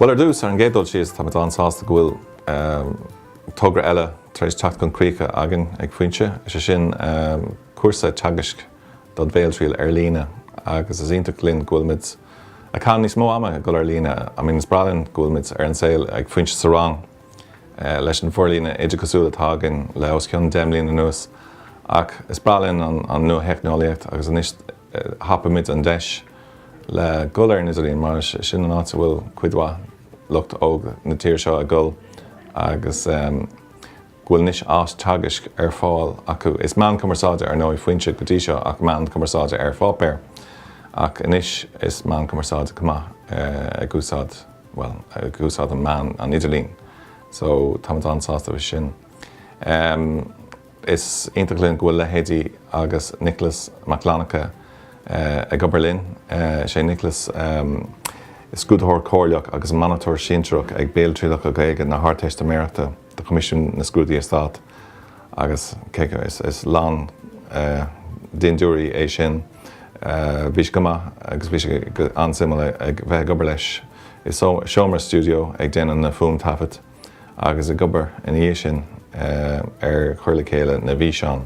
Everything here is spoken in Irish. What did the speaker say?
Bhuel, ar dtús, ar an gcéad dul síos, táimid lánsásta go bhfuil togra eile tar éis teacht chun críche againn ag Foinse, is é sin cúrsa teagaisc, don bhéaltriail ar líne agus is iontach linn go bhfuilimid ag caitheamh níos mó ama ag dul ar líne. I mean is breá linn go bhfuilimid ar an tsaol ag Foinse sa rang leis an bhforlíonadh oideachasúil atá againn le os cionn deich mbliana anuas ach is breá linn an nuatheicneolaíocht agus anois thapaigh muid an deis le dhul ar an idirlíon mar is sin an áit a bhfuil cuid mhaith lucht óg na tíre seo ag dul agus go bhfuil anois áis teagaisc ar fáil acu. Is meán cumarsáide, ar ndóigh, Foinse go dtí seo ach meán cumarsáide ar pháipéar, ach anois is meán cumarsáide chomh maith ag úsáid, bhuel, ag úsáid an meán, an idirlíon. So, táimid an-sásta faoi sin. Is iontach linn go bhfuil leithéidí Nicholas Mac Fhlannchadha ag obair linn. Is é Nicholas scrúdaitheoir comhairleach agus monatóir sinsearach ag béaltrialacha Gaeilge na hArdteistiméireachta. do Choimisiún na Scrúduithe Stáit agus cé go is lán dintiúirí é sin bhí sé go maith agus bhí sé an-suimiúil a bheith ag obair leis i seomra stiúideo ag déanamh na fuaimthaifead agus ag obair ina dhiaidh sin ar chur le chéile na bhfíseán.